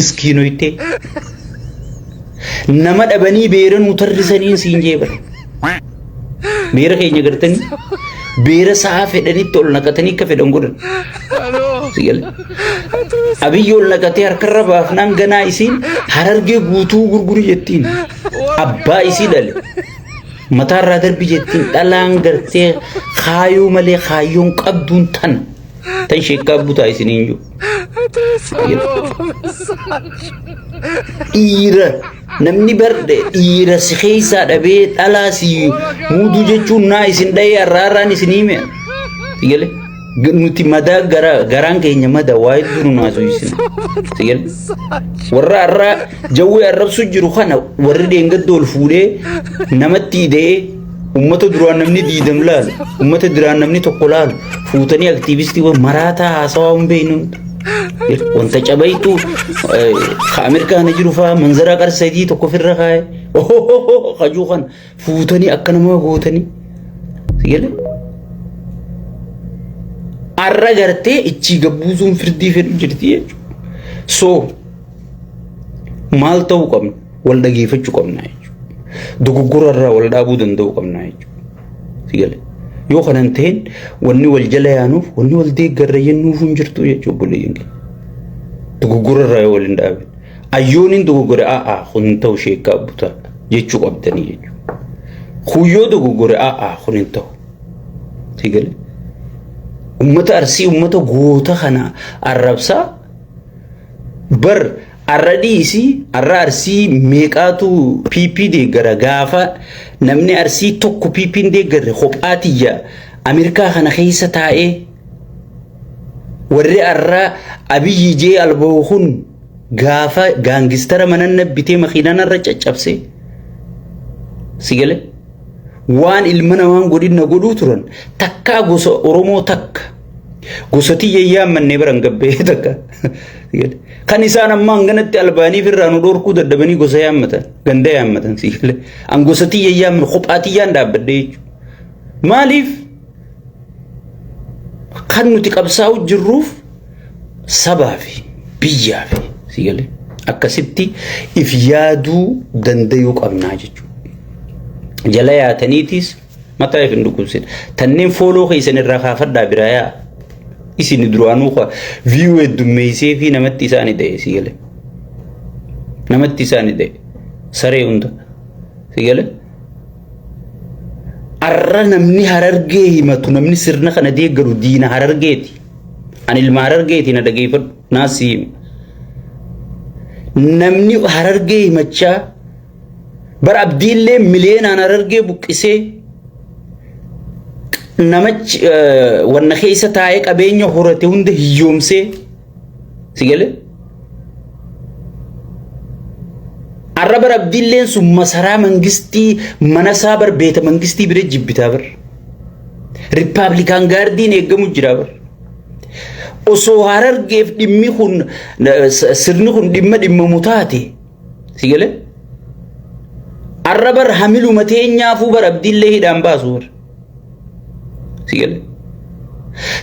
miskiinoyte nama dhabanii beera nu tarrisaniin siin jee bara beera keenya gartanii beera sa'a fedhanitti ol naqatanii akka fedhan godhan sigale abiyyi ol naqatee harkarra baafnaan ganaa isiin harargee guutuu gurguri jettiin abbaa isii dhale mataarraa darbi jettiin dhalaan gartee kaayoo malee kaayyoon qabduun tana Tan sheekkaa butaa isiniin jiru. Dhiira namni bar dhiira si keessaa dhabee dhalaa si muuduu jechuun naa isin dha'ee arraaraan isin hime. Sigale nuti madaa gara garaan keenya mada waa hedduu nu naasuu isin. Sigale warra arraa jawwee arrabsu jiru kana warri deengadda ol fuudhee namatti hidhee Uummata duraan namni diidam laalu, uummata duraan namni tokko laalu, fuutanii aktiivistiiwwan maraataa haasawaa hin beeknu. Wanta cabaytu ka Ameerikaana jiru fa'aa manzara qar sadii tokko ofirra kaa'e. Kajuu kana fuutanii akka nama gootanii. Sigale? Arra gartee ichii gabbuusuun firdii fedhu jirti jechuudha. So maal ta'uu qabna? wal dhageeffachuu qabna jechuudha. Dogoggora irraa wal dhaabuu danda'uu qabna jechuudha. Yoo kana hin ta'in wanni wal jala yaanuuf wanni wal deeggarra jennuuf hin jirtu jechuudha obboleeyyan keenya. Dogoggora irraa yoo wal hin dhaabin. Ayyooniin dogoggore a'a kun hin ta'u sheekkaa butaa jechuu qabdanii jechuudha. Kuyyoo dogoggore a'a kun hin ta'u. Sigalee. Uummata arsii uummata goota kana arrabsaa bar Arra dhiisi arra arsii meeqaatu PP deeggara gaafa namni arsii tokko PP hin deeggarre kophaa tiyya Ameerikaa kana keessa taa'ee warri arra abiyyi jee albahu kun gaafa gaangistara manan nabbitee makiinan arra caccabse sigale waan ilma namaan godhin na godhuu turan takkaa gosa Oromoo takka gosa tiyya yaammanne biran gabbee takka sigale. Kan isaan amma hanganatti albaaniif irraa nu dhorkuu dadhabanii gosa yaammatan ganda yaammatan siillee an gosa tiyya yaamma kophaa tiyyaan dhaabbadhee jechuudha. Maaliif kan nuti qabsaa'u jirruuf sabaa fi biyyaa fi siillee akkasitti if yaaduu dandayuu qabnaa jechuudha. Jala yaataniitis Mataa ifin dhukkubsin. Tanneen fooloo keessan irraa kaafadhaa biraa yaa. Isin duraanuu kwa viiyuu heddummeessee fi namatti isaani ta'e si gale. Namatti isaani ta'e. Saree hunda. Si gale. Arra namni harargee himatu namni sirna kana deeggaru diina harargeeti. Ani ilma harargeeti na dhageeffadhu naasii hima. Namni harargee himachaa Bar abdiillee miliyeenaan harargee buqqisee namachi wanna keessa taa'ee qabeenya horate hunda hiyyoomsee si galee arra bar abdiilleen sun masaraa mangistii manasaa bar beeta mangistii bira jibbitaa bar rippaablikaan gaardiin eegamu jira bar osoo harargeef dhimmi kun sirni kun dhimma dhimmamu taate Si galee? Arra bar hamiluma teenyaafuu bar abdiillee hidhaan baasu bar. Si galee?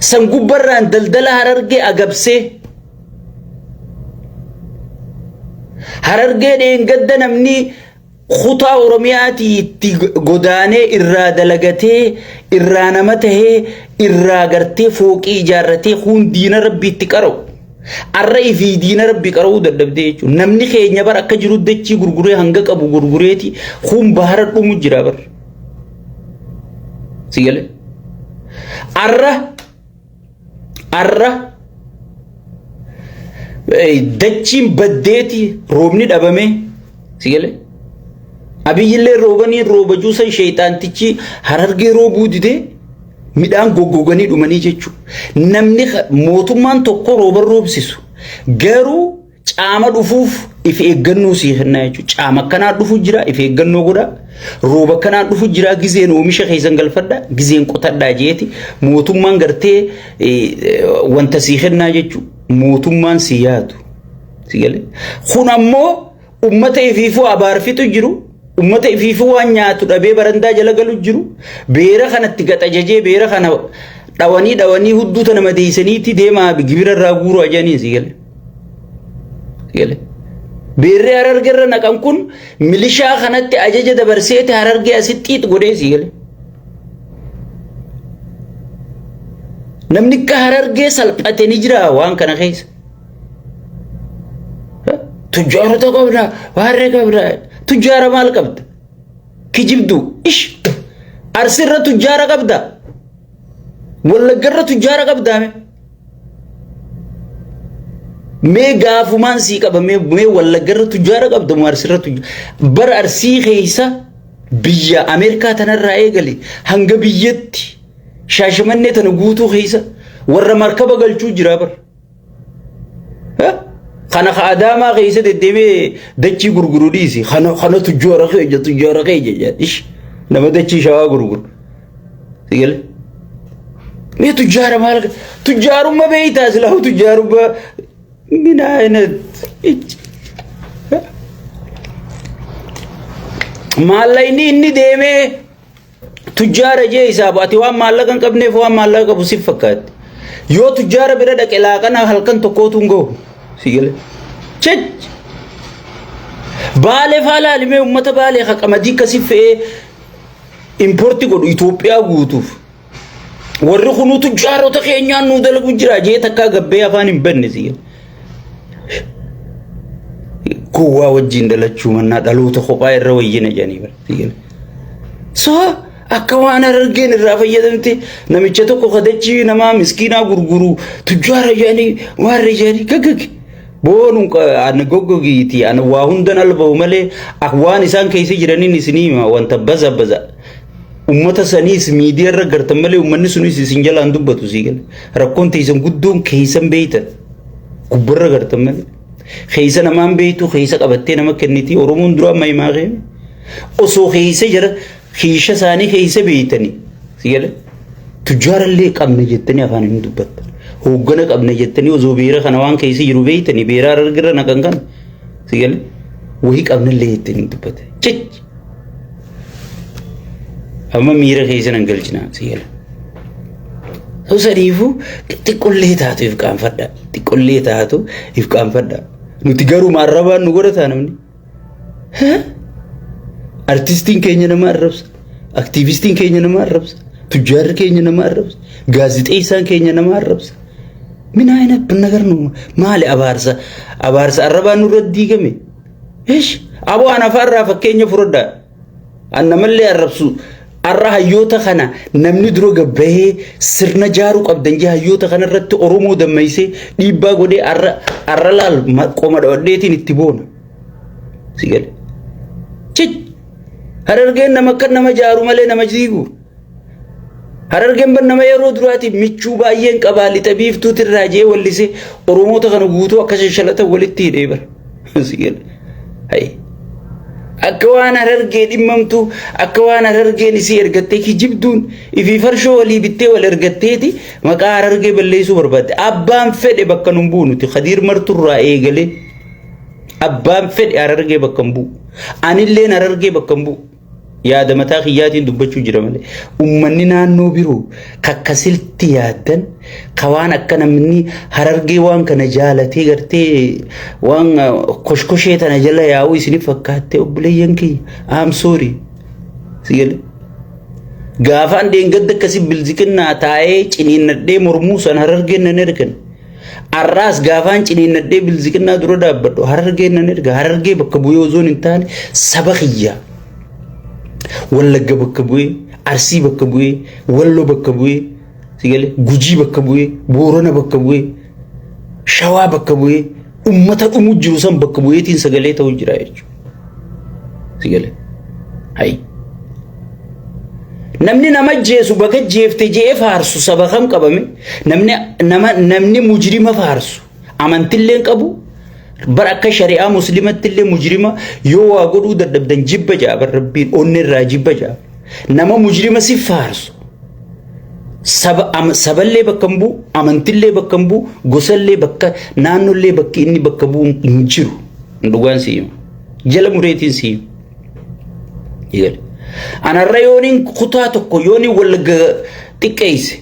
San gubbarraan daldala harargee agabsee harargee dheengadda namni kutaa oromiyaatii itti godaanee irraa dalagatee irraa nama tahee irraa gartee fooqii ijaarratee kun diina rabbii itti qara'u. Arra ifii diina rabbi qara'uu dadhabdee jechuudha. Namni keenya bar akka jiru dachii gurguree hanga qabu gurgureeti kun bahara dhumu jira bar. Si galee? Arra arra eh, dachiin baddeeti roobni dhabamee si galee? Abiyyillee roobanii rooba juusan sheeyxaantichi harargee roobuu didee Midhaan goggoganii dhumanii jechuun namni mootummaan tokko rooban roobsisu garuu caama dhufuuf if eeggannoo sii kennaa jechuudha. Caama akkanaa dhufu jira if eeggannoo godha. Rooba akkanaa dhufu jira gizeen oomisha keessan galfadha gizeen qotadhaa jeeti mootummaan gartee wanta sii kennaa jechuudha. Mootummaan sii yaadu. Kun ammoo Ummata ifiifuu abaarfitu jiru. Ummata ifiifuu waan nyaatu dhabee barandaa jala galu jiru. Beera kanatti gaxajajee beera kana dhawanii dhawanii hudduu tana madeessaniitti deemaa gibira irraa guuruu ajaniin si gale. Gale. Beerri hararge irra naqan kun milishaa kanatti ajaja dabarseeti harargee asitti xiix godhee si gale. Namni akka harargee salphate ni jira waan kana keessa. Tujjaarota qabda, waarra qabda. Tujjaara maal qabda? Kijibdu. Ish. Arsirra tujjaara qabda. Wallaggarra tujjaara qabda. Mee gaafumaan sii qaba mee mee wallaggarra tujjaara qabda moo arsirra tujjaara. Bara arsii keessa biyya Ameerikaa tanarraa eegale hanga biyyatti shaashamannee tana guutuu keessa warra markaba galchuu jira bara. Kana ka adaamaa keessa deddeebi'ee dachii gurguru dhiisi. Kana kana tujjoora kee ija tujjoora kee ija jedha. Ish nama dachii shawaa gurguru. Sigale. Mee tujjaara maal tujjaarumma beeytaa silaahu tujjaarumma min ayinat. Maallaqni inni deemee Tujjaara jee hisaabu ati waan maallaqa hin qabneef waan maallaqa qabu siif fakkaatti. Yoo tujjaara bira dhaqe laaqana halkan tokkootu hin gahu. Si gale. Chech! Baalee faa laalimee uummata baalee ha qamadii akkasii fe'ee importi godhu Itoophiyaa guutuuf. Warri kunuu tujjaarota keenyaan nuu dalagu jira jee takkaa gabbee afaan hin banne si gale. Gowwaa wajjin dalachuu mannaa dhaloota kophaa irra wayyina jedhanii bara. So akka waan argeen irraa fayyadamte namicha tokko kadachii nama miskiinaa gurguru tujjaa rayyaanii waan rayyaanii gaggage. Boonu ana goggogiiti ana waa hundan alba'u malee ak waan isaan keessa jiraniin isinii hima wanta baza baza. Uummata saniis miidiyaa irra gartan malee uummanni sunis isin jalaan dubbatu sii gala. Rakkoon teessan guddoon keessan beeytan. Gubbarra gartan malee. Keessa namaan beektu keessa qabattee nama kenniti Oromoon dura amma himaa kee osoo keessa jira kiisha isaanii keessa beektanii si gale tujjaarallee qabna jettanii afaan hin dubbattan hooggana qabna jettanii osoo beera kana waan keessa jiru beektanii beeraa argirra naqan kana si gale wahii qabnallee jettanii hin dubbattan. Amma miira keessa nan galchina si gala. Osoo sadiifuu xiqqollee taatu if qaanfadha. Xiqqollee taatu if qaanfadha. Nuti garuu maarrabaan nu godhataa namni. Artistiin keenya nama arrabsa. Aktiivistiin keenya nama arrabsa. Tujjaarri keenya nama arrabsa. Gaazixeessaan keenya nama arrabsa. Min ayina binnagar nu maali abaarsa abaarsa arrabaan nurra diigame. Ish aboo ana faarraa fakkeenya fudhadha. An namallee arrabsu arra hayyoota kana namni dura gabbahee sirna jaaruu qabdan jee hayyoota kana irratti Oromoo dammeessee dhiibbaa godhee arra arra laal ma- qoma dhawadheetiin itti boona. Si gale. Cicci. Harargeen nama akka nama jaaru malee nama jiigu. Harargeen ban nama yeroo duraatiif michuu baay'een qabaa lixa biiftuuti irraa jee wallise Oromoota kana guutuu akka shashalatan walitti hidhee bara. Akka waan harargee dhimmamtu akka waan harargeen isii ergattee kijibduun ifii farshoo walii bittee wal ergatteeti maqaa harargee balleessuu barbaadde. Abbaan fedhe bakka nun bu'u nuti kadiir marturraa eegalee abbaan fedhe harargee bakka hin bu'u. Anilleen harargee bakka hin bu'u. Yaada mataa kiyyaatiin dubbachuu jira malee ummanni naannoo biroo kakka silti yaaddan ka waan akka namni harargee waan kana jaalatee gartee waan koshkoshee tana jala yaa'uu isinif fakkaattee obboleeyyan kiyya I'm sorry. Sigale. Gaafaan deengadda akkasii bilziqinnaa taa'ee ciniinnadhee mormuu san harargeen nan ergan. Arraas gaafaan ciniinnadhee bilziqinnaa dura dhaabbadhu harargee nan erga harargee bakka bu'ee osoo hin taane saba kiyya. Wallagga bakka bu'ee Arsii bakka bu'ee Walloo bakka bu'ee si galee Gujii bakka bu'ee Boorana bakka bu'ee Shawaa bakka bu'ee ummata dhumu jiru san bakka bu'eetiin sagalee ta'u jira jechuudha. Sagalee. Hayi. Namni nama jeesu baga jeefte je'ee faarsu saba kam qabame namni nama namni mujrima faarsu amantillee qabu bar akka shari'aa muslimattillee mujrima yoo waa godhuu dadhabdan jibba ja'a bar rabbiin onnirraa jibba ja'a. nama mujrima si faarsu saba am- saballee bakka hin bu'u amantillee bakka hin bu'u gosallee bakka naannollee bakki inni bakka bu'u hin jiru dhugaan si hima jala mureetiin si hima Eegale. anarra yooniin kutaa tokko yooniin wallagga xiqqeeyse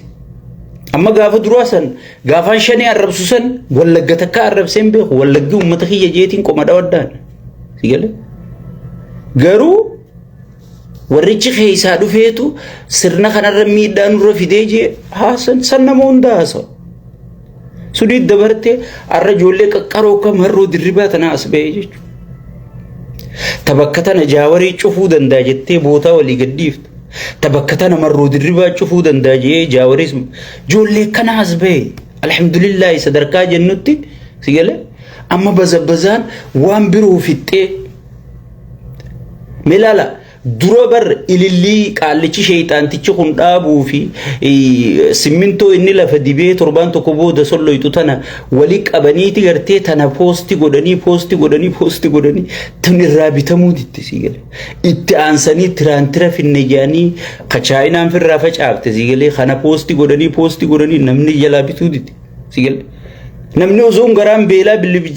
amma gaafa duraa san gaafaan shanii arrabsu san wallagga takka arrabseen beeku wallaggi uummata kiyya jeetiin qoma dhawaddaan Eegale. garuu Warrichi keessaa dhufeetu sirna kanarra miidhaa nurra fidee jee haasan san nama hunda haasa. Sudii dabarte arra ijoollee qaqqaroo kam harroo dirribaa tana as ba'ee jechuudha. Tabakka tana jaawarii cufuu danda'a jettee bootaa walii gadhiifta. Tabakka tana marroo dirribaa cufuu danda'a jee jaawaris ijoollee kana as ba'e. Alhamdulillaahi sadarkaa jennutti si galee amma bazabbazaan waan biroo fixxee. Milaala dura bar ilillii qaallichi sheeyxaantichi kun dhaabuu fi simmintoo inni lafa dibee torbaan tokko booda solloytu tana wali qabaniiti gartee tana poosti godhanii poosti godhanii poosti godhanii tan irraa bitamuu ditti sii galee itti aansanii tiraantira finne jedhanii ka chaayinaan firraa facaafte sii galee kana poosti godhanii poosti godhanii namni jalaa bituu ditti sii galee namni osoon garaan beelaa bilibija